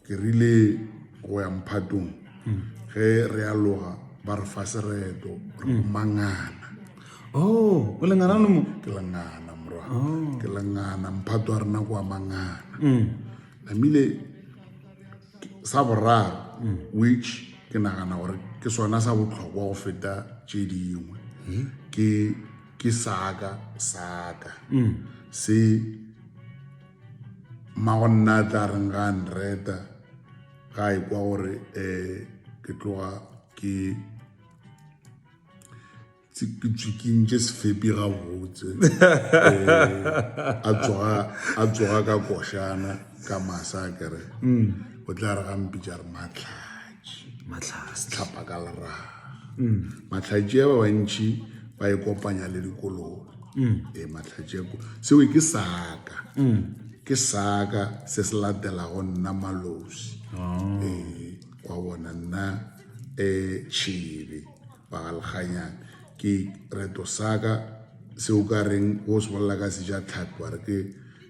Ke rile go ya mphatong ge re a loga ba re fa sereto re go mangana. Oh, o lengana le mo? Ke lengana morwa. Oh. Ke lengana mphato a rena kwa mangana. Mm. Namile sa boraro mm. which ke nagana gore ke sona sa botlhokwa go feta tše dingwe. Mm. Ke ke saka saka. Mm. Se mmago nna a tla reng ga a nreta ga a ikwa gore um ke tloga ke tswikintše sefepi gabotse a tsoga ka košana ka masa a kere o tla re gampitša re matlhaa matlhase tlhapa ka lera mm. matlhatše ba bantšhi ba e kopanya le dikolobe mm. e matlhatše seo ke saka mm. ke saka se se latelago nna malosi oh. e kwa bona nna um tšhebe bagalganyana ke reto saka seo ka reng o se bolela ka seja tlhapi wa re ke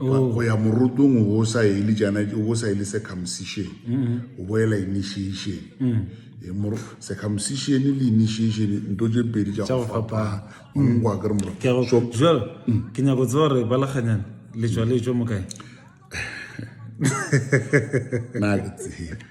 go ya morotong o bo sa ele jana o bo sa ele circumcision o boela initiation circumcision le initiation nto tše pedi tša go fapana ngwa ke re moro jalo ke nyako tseba gore ba laganyana letswa letswa mo kae na ke tsebe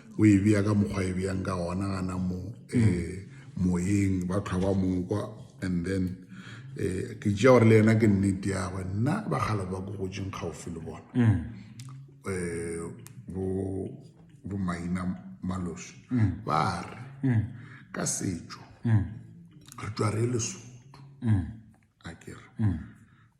o e bea ka mokgwa e bjang ka gona gana mo um moyeng ba tlhwa ba mokwa and then um ke tšea gore le yena ke nnete yagwe nna bagalo ba ko gotseng kgaofi le bona um bo bo maina maloso ba re ka setšo re tšwa re le soto a kere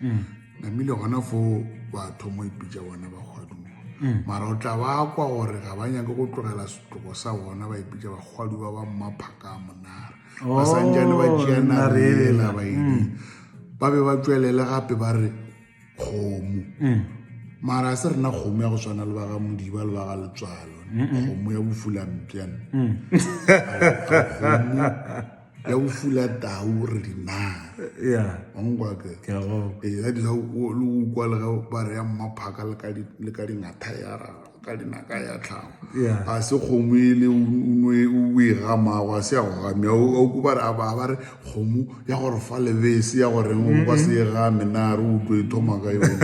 mm. namile gona fo batho mo ipitša bona bakgwaduwa mm. mara o tla ba kwa gore ga ba nyake go tlogela setloko sa bona ba ipitša bakgwaduwa ba mmaphaka a monara oh, ba sanjane ba tšea narela ba edi mm. ba be ba tswelele gape ba re kgomo mm. mara se rena kgomo ya go tshwana le baga modiba le baga letswalo kgomo ya bofulampjane mm. ya go fula tau re di naaongwake ya dila le ukwa le ge ba re ya mmaphaka le ka dingatha ya ka dinaka ya tlhago ga se kgomo e le o e gamago a se ya go gamea auko ba re a baa ba re kgomo ya gore fa lebese ya goreng o kwa se e game na re utlo e thoma ka yone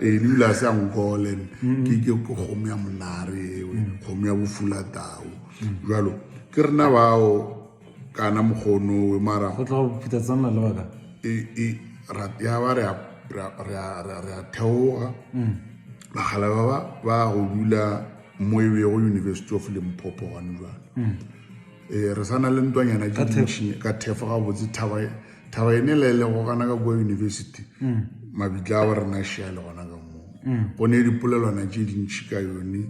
ee lebile a se ya ngolene ke kgomo ya monare ewe kgomo ya bofula tau bjalo ke rena bao kana mokgonowe mara go tla go phita tsana le baka e e ra ya ba re ra ra ra ra theoga mm. bagala ba ba ba go dula mo e be go university of limpopo gone jalo mm. e re sana le ntwanyana ke dintšhine ka thefo ga botse thaba thaba ene le le go kana ka kwa university mm. mabitla a ba rena shia le gona ka moo mm. go ne dipolelwana tše dintšhi ka yone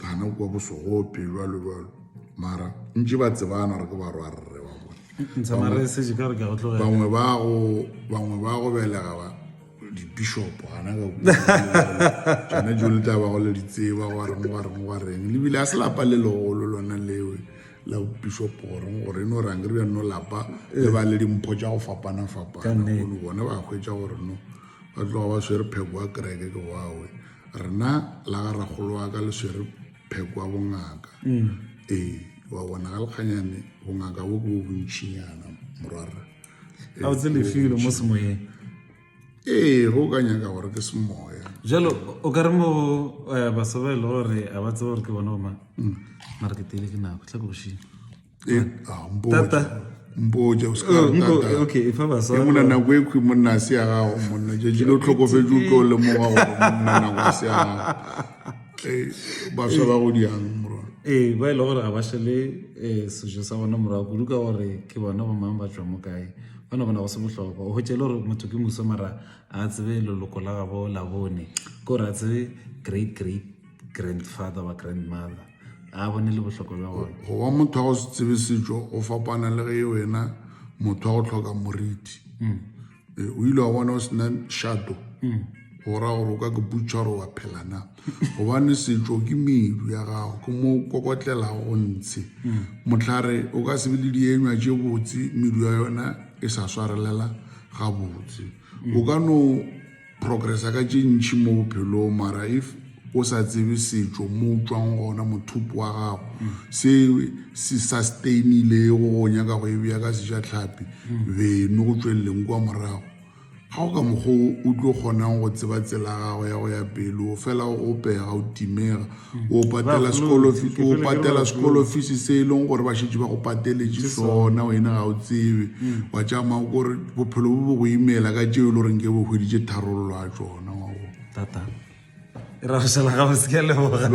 gana kwa bosogo pelo a lebalo mara ntse ba tsebana re ke ba rwa rre wa bonebangwe ba go belega ba dibishopo gana ka tsone jo le tla ba go le ditseba go reng go reng go reng lebile a se lapa le legolo lona lewe la bishopo goreng gore e no rang re bjano lapa le ba le dimpho tša go fapana fapana bone ba hwetša gore no ba tloga ba swere pheko wa kereke ke wawe rena la ga rakgolo wa ka le swere pheko wa bongaka mm. ee wa bona ga lekganyane bongaka bo bo bontšhinyana morwarra a o tselefile mo semoyeng ee go ka nyaka gore ke semoya jalo o ka re mo eh, baso ba e le gore a ba tsebe gore ke bona omang mm. mara ke tele ke nako tla ke bošimo Eh, ah, mpotša. Tata. mpotša o se ka re Oh, nko- tata. okay, efa basadi Ke monna ba- nako e khwi monna a se ya gago monna tšatši le o tlhokofetše o tlo lemoga gore monna nako a se ya gago Eh, baswa ba go diang morwana ee ba e le gore ga ba šele um sejo sa bona morago kudu ka gore ke bona ba mang ba tswa mo kae bona bona go se bohlokwa o hwetše e le gore motho ke muso mara a tsebe leloko la gabo la bone ke gore a tsebe great great grandfather ba grandmother a bone le bohlokwa bja gona go ba motho wa go se tsebe setšo go fapana le ge wena motho wa go tlhoka moriti mm. e, o ile wa bona o sena shato mm. go ra gore o ka ke butšha gore wa phelana gobane setšo ke medu ya gago ke mo kokotlelago go ntshe mm. motlhare o ka sebe le dienywa tše botse medu ya yona e sa swarelela gabotse o ka no Progressa ka tše ntši mo bophelong, mara if o sa tsebe setšo mo o tšwang gona, mothopo wa gago, se se sustainilego go nyaka go e bea ka seja tlhapi, beno go tšweleleng kwa morago. Ga go ka mokgwa o o tlo kgonang go tseba tsela ya gago ya go ya pele, o fela o pega, o timega. o patela sekolo o patela sekolo fees se e leng gore ba šetše ba go pateletše sona wena ga o tsebe mm. wa tšama o kore bophelo bo bo go imela ka tšeo e le goreng ke bo hweditše tharololo a tsona wa go tata e ra go šala ga o se ke leboga